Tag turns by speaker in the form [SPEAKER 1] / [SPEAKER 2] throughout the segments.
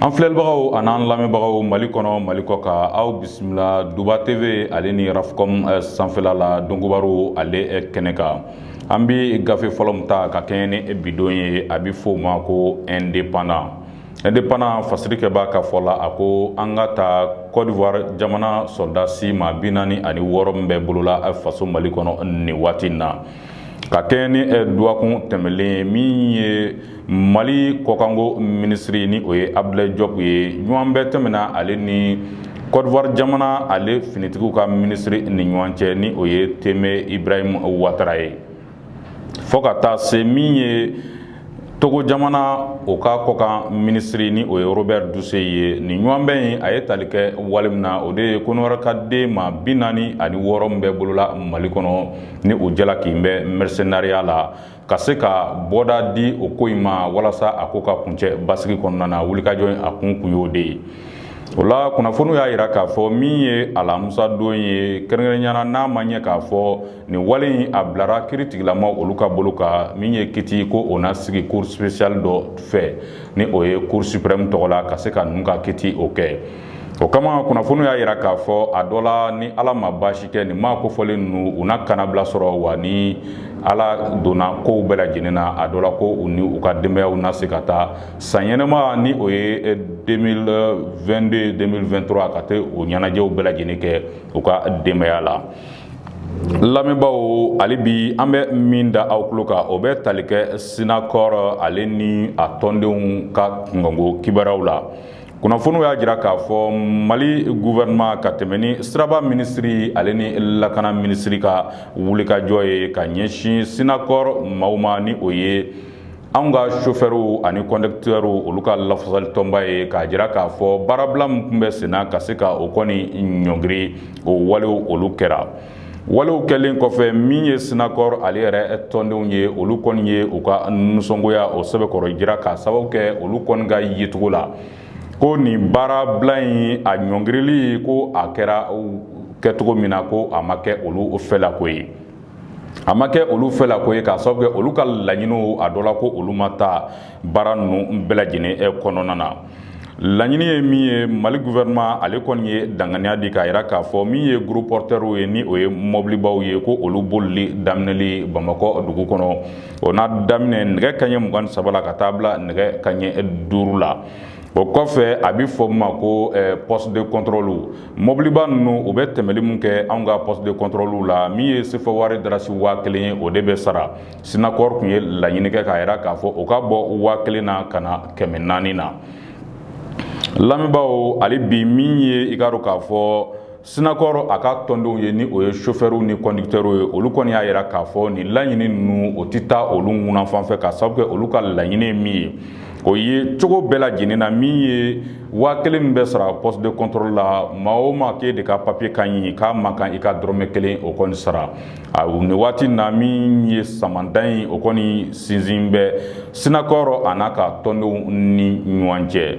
[SPEAKER 1] an filɛlibagaw an'an lamɛnbagaw mali kɔnɔ mali kɔkan aw bisimila duba tv ale ni rafcom eh, sanfɛla la donkibaru ale eh, kɛnɛ kan an bi gafe fɔlɔ min ta ka kɛɲɛ ni bidon ye a bi f'o ma ko indépendant indépendant fasirikɛba ka fɔ la a ko an ka taa cote d'ivoire jamana sɔrɔdasi maa bi naani ani wɔɔrɔ min bɛ bolola eh, faso mali kɔnɔ nin waati in na ka kɛɲɛ ni eh, dɔgɔkun tɛmɛlen min ye mali kɔkanko minisiri ni o ye abdoulaye diop ye ɲɔgɔnbɛn tɛmɛna ale ni cote d'ivoire jamana ale finitigiw ka minisiri ni ɲɔgɔn cɛ ni o ye tene ibrahim ouattara ye fɔ ka taa se min ye togo jamana o ka kɔkan minisiri ni o ye robert dussey ye nin ɲɔgɔnbɛn in a ye tali kɛ wale min na o de ye kɔnɔwarikaden maa bi naani ani wɔɔrɔ min bɛ bolola mali kɔnɔ ni o jalaki bɛ mɛrisenariya la ka se ka bɔda di o ko in ma walasa a ko ka kuncɛ basigi kɔnɔna na wulikajɔ in a kun kun y'o de ye o la kunnafoniw y'a yira k'a fɔ min ye alamusadon ye kɛrɛnkɛrɛnya na n'a ma ɲɛ k'a fɔ Nin wale in a bilara kiritigɛlamaw olu ka bolo kan min ye kiti ko o na sigi cour spéciale dɔ fɛ ni o ye cour suprême tɔgɔ la ka se ka ninnu ka kiti o kɛ o kama kunnafoniw y'a yira k'a fɔ a dɔ la ni ala ma baasi kɛ nin maa kofɔlen ninnu u na kanabila sɔrɔ wa ni ala donna kow bɛɛ lajɛlen na a dɔ la ko u ni u ka denbayaw na se ka taa san yɛlɛma ni o ye 2022 2023 ka taa o ɲɛnajɛw bɛɛ lajɛlen kɛ u ka denbaya la lamɛnbaaw hali bi an bɛ min da aw tulo kan o bɛ tali kɛ synacor ale ni a tɔndenw ka kunkanko kibaruyaw la kunnafoniw y'a jira k'a fɔ mali gouvernement ka tɛmɛn ni siraba minisiri ale ni lakana minisiri ka wulikajɔ ye ka ɲɛsin synacor maaw ma ni o ye anw ka sofɛrw ani conducteur olu ka lafasalitɔnba ye k'a jira k'a fɔ baarabila min tun bɛ senna ka se ka o kɔni ɲɔngiri o walew olu kɛra walew kɛlen kɔfɛ min ye synacor ale yɛrɛ tɔndenw ye olu kɔni ye u ka nisɔngoya o sɛbɛkɔrɔ jira k'a sababu kɛ olu kɔni ka yecogo la ko nin baarabila in a ɲɔngirili ko a kɛra kɛcogo min na ko a ma kɛ olu fɛlako ye a ma kɛ olu fɛlako ye k'a sababu kɛ olu ka laɲiniw a dɔ la ko olu ma ta baara ninnu bɛɛ lajɛlen eh, kɔnɔna na laɲini ye min ye mali gouvernement ale kɔni ye danganiya di k'a yira k'a fɔ min ye gros porteurs ye ni o ye mɔbilibaw ye ko olu bolili daminɛli bamakɔ dugu kɔnɔ o na daminɛ nɛgɛ kaɲɛ mugan ni saba la ka taa bila nɛgɛ kaɲɛ duuru la o kɔfɛ a bɛ fɔ ma ko poste de contrôlew mɔbiliba ninnu u bɛ tɛmɛli min kɛ anw ka poste de contrôlew la min ye sefa wari darasi waa kelen ye o de bɛ sara SYNACOR tun ye laɲini kɛ k'a jira k'a fɔ o ka bɔ waa kelen na ka na kɛmɛ naani na lamɛnbaaw hali bi min ye i k'a dɔn k'a fɔ SYNACOR a ka tɔndenw ye ni o ye chauffeurw ni conducteurw ye olu kɔni y'a jira k'a fɔ nin laɲini ninnu o tɛ taa olu ŋuna fan fɛ k'a sababu kɛ olu ka laɲini ye min ye o ye cogo bɛɛ lajɛlen na min ye waa kelen min bɛ sara poste de contrôle la maa o maa k'e de ka papiye ka ɲi k'a man kan i ka dɔrɔnmɛ kelen o kɔni sara a nin waati na min ye samanda in o kɔni sinsin bɛ SYNACOR a n'a ka tɔndenw ni ɲɔgɔn cɛ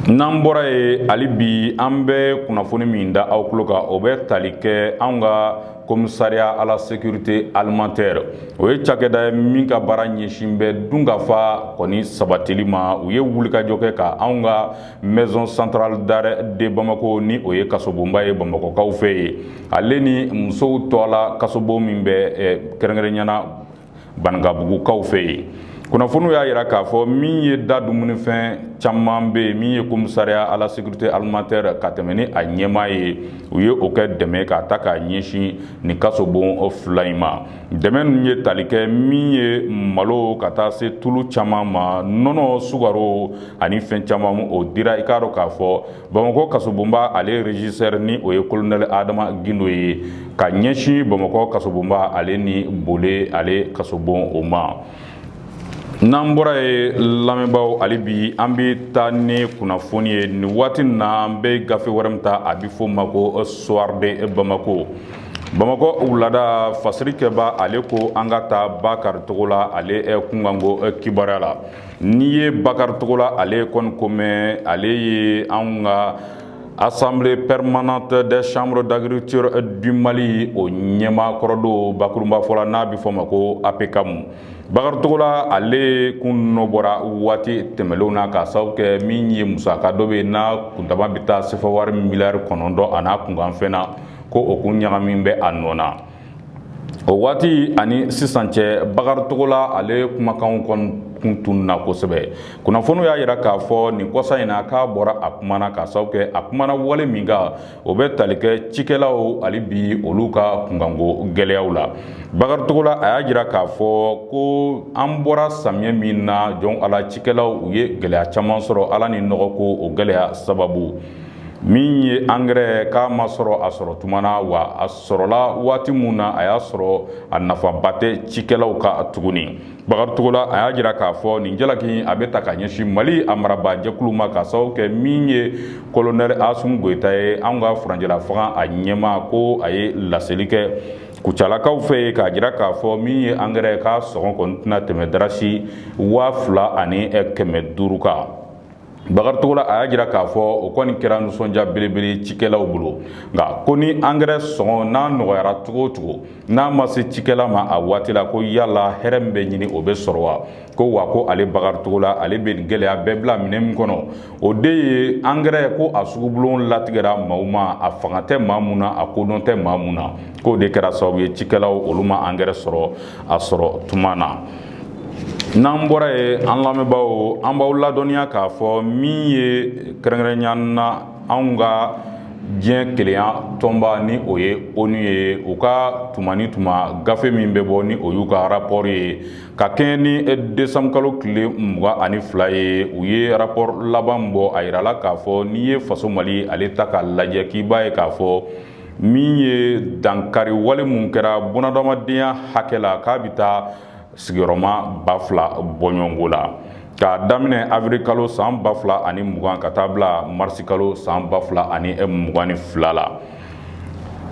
[SPEAKER 1] n'an bɔra ye hali bi an bɛ kunnafoni min da aw tulo kan o bɛ tali kɛ anw ka commissariat à la sécurité alimentaire o ye cakɛda ye min ka baara ɲɛsin bɛ dunkafa kɔni sabatili ma u ye wulikajɔ kɛ ka an ka maison centrale d'arrêt de Bamako ni o ye kasobonba ye bamakɔkaw fɛ yen ale ni musow tɔɔ la kasobon min bɛ kɛrɛnkɛrɛnnenya na Banankabugukaw fɛ yen kunnafoniw y'a jira k'a fɔ min ye da dumunifɛn caman bɛ yen min ye commissariat à la sécurité alimentaire ka tɛmɛ ni a ɲɛmaa ye u ye o kɛ dɛmɛ k'a ta k'a ɲɛsin nin kasobon fila in ma dɛmɛ ninnu ye tali kɛ min ye malo ka taa se tulu caman ma nɔnɔ sukaro ani fɛn caman o dira i k'a dɔn k'a fɔ Bamakɔ kasobonba ale régisseur ni o ye colonel Adama Gindo ye k'a ɲɛsin bamakɔ kasobonba ale ni Bole ale kasobon o ma n'an bɔra ye lamɛnbaaw hali bi an bɛ taa ni kunnafoni ye nin waati na an bɛ gafe wɛrɛ min ta a bɛ fɔ ma ko Soir de Bamako bamakɔ wulada fasirikɛbaa ale ko an ka taa Bakari Togola ale kunkanko kibaruya la N'i ye Bakari Togola ale kɔni ko mɛn ale ye an ka Assemblée permanente des chambres d'agriculture du Mali o ɲɛmaa kɔrɔ don bakurunba fɔ la n'a bɛ fɔ o ma ko APCAM Bakari Togola ale kun nɔ bɔra waati tɛmɛlenw na k'a sababu kɛ min ye musaka dɔ bɛ yen n'a kuntama bɛ taa sefa wari miliyari kɔnɔntɔn a n'a kunkanfɛn na ko o kun ɲagami bɛ a nɔ na o waati ani sisan cɛ Bakari Togola ale kumakanw kɔni kun tununna kosɛbɛ kunnafoniw y'a yira k'a fɔ nin kɔsa in na k'a bɔra a kumana k'a sababu kɛ a kumana wale min kan o bɛ tali kɛ cikɛlaw hali bi olu ka kunkanko gɛlɛyaw la Bakari Togola a y'a jira k'a fɔ ko an bɔra samiyɛ min na jɔn ala cikɛlaw u ye gɛlɛya caman sɔrɔ ala ni nɔgɔko o gɛlɛya sababu min ye angɛrɛ k'a ma sɔrɔ a sɔrɔ tuma na wa a sɔrɔla waati min na a y'a sɔrɔ a nafaba tɛ cikɛlaw kan tuguni bakari togola a y'a jira k'a fɔ nin jalaki a bɛ ta ka ɲɛsin mali a marabaa jɛkulu ma k'a sababu kɛ min ye kolonɛli asimi goyita ye an ka furancɛla fanga a ɲɛmaa ko a ye laseli kɛ kucalakaw fɛ yen k'a jira k'a fɔ min ye angɛrɛ k'a sɔngɔ kɔni tɛna tɛmɛ darasi waa fila ani kɛmɛ duuru kan Bakari Togola a y'a jira k'a fɔ o kɔni kɛra nisɔndiya belebele cikɛlaw bolo nka ko ni angɛrɛ sɔngɔ n'a nɔgɔyara cogo o cogo n'a ma se cikɛla ma a waati la ko yala hɛrɛ min bɛ ɲini o bɛ sɔrɔ wa ko wa ko ale Bakari Togola ale bɛ nin gɛlɛya bɛɛ bila minɛn min kɔnɔ o de ye angɛrɛ ko a sugubulon latigɛra maaw ma a fanga tɛ maa min na a kodɔn tɛ maa min na k'o de kɛra sababu ye cikɛlaw olu ma angɛrɛ sɔrɔ a sɔrɔ tuma na n'an bɔra yen an lamɛnbaaw an b'aw ladɔnniya k'a fɔ min ye kɛrɛnkɛrɛnya na anw ka diɲɛ kelenya tɔnba ni o ye ONU ye u ka tuma ni tuma gafe min bɛ bɔ ni o y'u ka arapɔri ye ka kɛɲɛ ni desanburu kalo tile mugan ani fila ye u ye arapɔri laban bɔ a yirala k'a fɔ n'i ye faso mali ale ta k'a lajɛ k'i b'a ye k'a fɔ min ye dankari wale minnu kɛra bunadamadenya hakɛ la k'a bɛ taa sigiyɔrɔma ba fila bɔɲɔgɔnko la k'a daminɛ awirili kalo san ba fila ani mugan ka taa bila marisi kalo san ba fila ani mugan ni fila la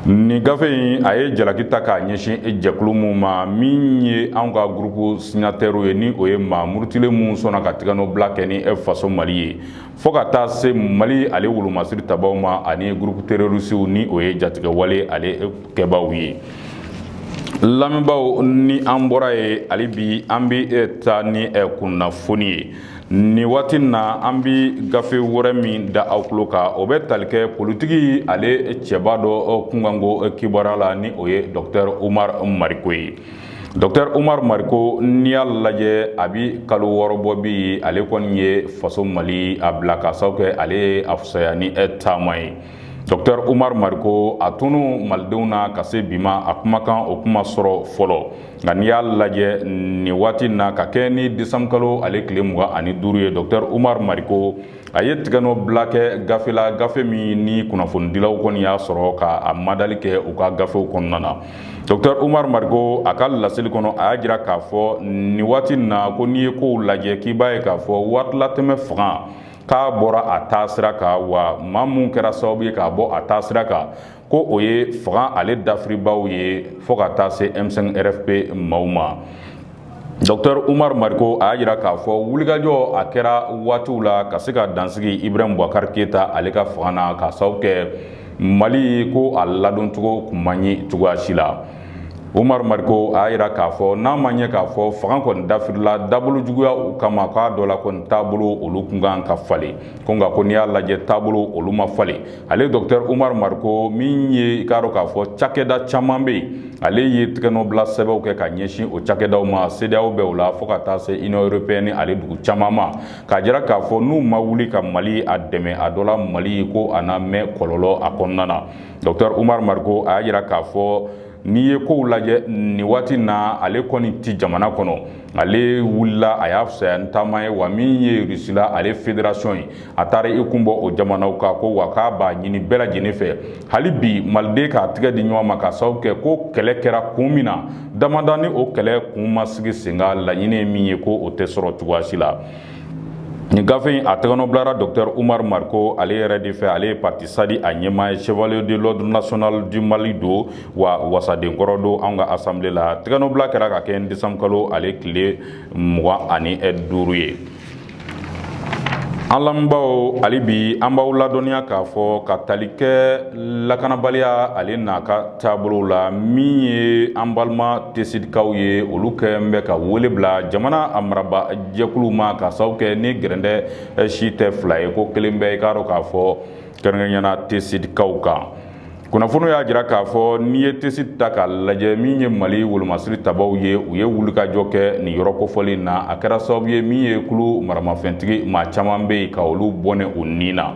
[SPEAKER 1] nin gafe in a ye jalaki ta k'a ɲɛsin e jɛkulu min ma min ye anw ka gurupu sinatɛriw ye ni o ye maa murutilen minnu sɔnna ka tigɛnɔ bila kɛ ni e faso mali ye fo ka taa se Mali ale wolomasiri tabaaw ma ani groupe terroristew ni o ye jatigɛwale ale kɛbaaw ye lamɛnbaaw ni an bɔra yen hali bi an bɛ taa ni kunnafoni ye nin waati na an bɛ gafe wɛrɛ min da aw tulo kan o bɛ tali kɛ politiki ale cɛba dɔ kunkanko kibaruya la ni o ye docteur Umaru Mariko ye Docteur Umaru Mariko n'i y'a lajɛ a bɛ kalo wɔɔrɔ bɔ bi ale kɔni ye faso mali a bila k'a sababu kɛ ale ye a fisaya ni e taama ye docteur Umaru Mariko a tunun malidenw na ka se bi ma a kumakan o kun ma sɔrɔ fɔlɔ nka n'i y'a lajɛ nin waati in na ka kɛ ni desanburu kalo ale tile mugan ani duuru ye docteur Umaru Mariko a ye tigɛnɔ bila kɛ gafe la gafe min ni kunnafonidilaw kɔni y'a sɔrɔ k'a madali kɛ u ka gafew kɔnɔna na docteur Umaru Mariko a ka laseli kɔnɔ a y'a jira k'a fɔ nin waati na ko n'i ye kow lajɛ k'i b'a ye k'a fɔ waatilatɛmɛ fanga k'a bɔra a taa sira kan wa maa minnu kɛra sababu ye k'a bɔ a taa sira kan ko o ye fanga ale dafiribaw ye fo ka taa se m5 rfp maaw ma dɔktɛr umaru mariko a y'a jira k'a fɔ wulikajɔ a kɛra waatiw la ka se ka dansigi ibrahim bubakar keyita ale ka fanga na k'a sababu kɛ mali ko a ladoncogo kun man ɲi cogoyasi la umaru mariko a y'a jira k'a fɔ n'a ma ɲɛ k'a fɔ fanga kɔni dafirila dabolo juguya o kama k'a dɔ la kɔni taabolo olu kun kan ka falen ko nka ko n'i y'a lajɛ taabolo olu ma falen ale dɔktɛr umar mariko min ye i k'a dɔn k'a fɔ cakɛda caman bɛ yen ale ye tɛgɛnɔbila sɛbɛnw kɛ ka ɲɛsin o cakɛdaw ma sedeyawo bɛ o la fo ka taa se union européenne ale dugu caman ma k'a jira k'a fɔ n'u ma wuli ka mali a dɛmɛ a dɔ la mali ko a na mɛn kɔlɔlɔ a kɔnɔna na dɔktɛr umar mariko a y'a jira k'a fɔ n'i ye kow lajɛ nin waati na ale kɔni ti jamana kɔnɔ ale wulila a y'a fisaya ni taama ye wa min ye rusila ale federasiyɔn ye a taara i kun bɔ o jamanaw kan ko wa k'a b'a ɲini bɛɛ lajɛlen fɛ hali bi maliden k'a tigɛ di ɲɔgɔn ma k'a sababu kɛ ko kɛlɛ kɛra kun min na damada ni o kɛlɛ kun ma sigi sen kan laɲini ye min ye ko o tɛ sɔrɔ cogoyasi la Nin gafe in a tɛgɛnɔ bilara dɔktɛr umar mariko ale yɛrɛ de fɛ ale ye parti sadi a ɲɛmaa ye chevalier de l'ordre national du mali don wa wasadenkɔrɔ don an ka asanble la tɛgɛnɔbila kɛra ka kɛ desanburu kalo ale tile mugan ani duuru ye an lamɛnbaw hali bi an b'aw ladɔnniya k'a fɔ ka tali kɛ lakanabaliya ale n'a ka taabolo la min ye an balima tesidikaw ye olu kɛlen bɛ ka wele bila jamana a maraba jɛkulu ma k'a sababu kɛ ni gɛrɛndɛ si tɛ fila ye ko kelen bɛ i k'a dɔn k'a fɔ kɛrɛnkɛrɛnnenya na tesidikaw kan kunnafoniw y'a jira k'a fɔ n'i ye tesidi ta k'a lajɛ min ye mali wolomasiri tabaw ye u ye wulikajɔ kɛ nin yɔrɔ kofɔlen in na a kɛra sababu ye min ye kulu maramafɛntigi maa caman bɛ yen ka olu bɔnɛ u ni na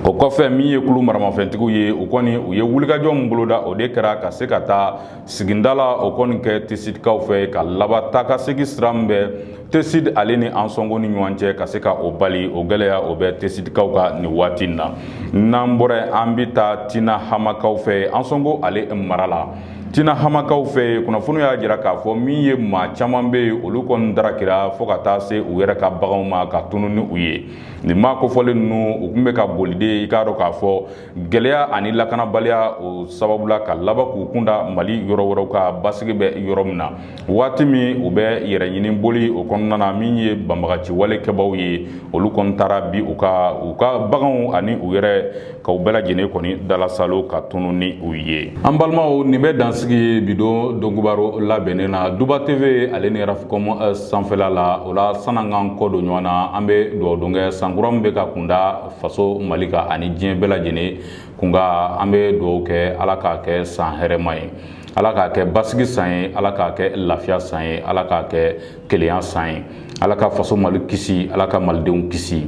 [SPEAKER 1] o kɔfɛ min ye kulu maramafɛntigiw ye u kɔni u ye wulikajɔ min boloda o de kɛra ka se ka taa sigida la o kɔni kɛ tesidikaw fɛ ka laban taakasegin sira min bɛ tesidi ale ni ansongo ni ɲɔgɔn cɛ ka se ka o bali o gɛlɛya o bɛ tesidikaw kan nin waati in na n'an bɔra an bɛ taa tinahamakaw fɛ ansongo ale mara la tinahamakaw fɛ kunnafoniw y'a jira k'a fɔ min ye maa caman bɛ yen olu kɔni darakira fo ka taa se u yɛrɛ ka baganw ma ka tunun ni u ye nin maa kofɔlen ninnu u tun bɛ ka boli de i k'a dɔn k'a fɔ gɛlɛya ani lakanabaliya o sababu la ka laban k'u kun da mali yɔrɔ wɛrɛw kan basigi bɛ yɔrɔ min na waati min u bɛ yɛrɛɲini boli o kɔnɔna na min ye banbagaciwale kɛbaw ye olu kɔni taara bin u kan u ka baganw ani u yɛrɛ ka u bɛɛ lajɛlen kɔni dalasalo ka tunun ni u ye an balimaw nin bɛ dan sigi bi don donkibaru labɛnnen na duba tv ale ni rafikɔm eh, sanfɛla la o la sann'an k'an kɔ don ɲɔgɔn na an bɛ dugawu don kɛ sankura min bɛ ka kunda faso mali kan ani diɲɛ bɛɛ lajɛlen kun kan an bɛ dugawu kɛ ala k'a kɛ san hɛrɛma ye ala k'a kɛ basigi san ye ala k'a kɛ lafiya san ye ala k'a kɛ kelenya san ye ala ka faso mali kisi ala ka malidenw kisi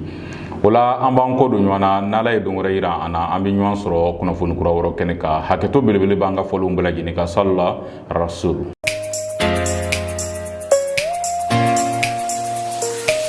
[SPEAKER 1] o la an b'an kɔ don ɲɔgɔn na n'ala ye don wɛrɛ yira an na an bɛ ɲɔgɔn sɔrɔ kunnafoni kura wɛrɛ kɛnɛ kan hakɛto belebele b'an ka fɔlenw bɛɛ lajɛlen kan salila rasul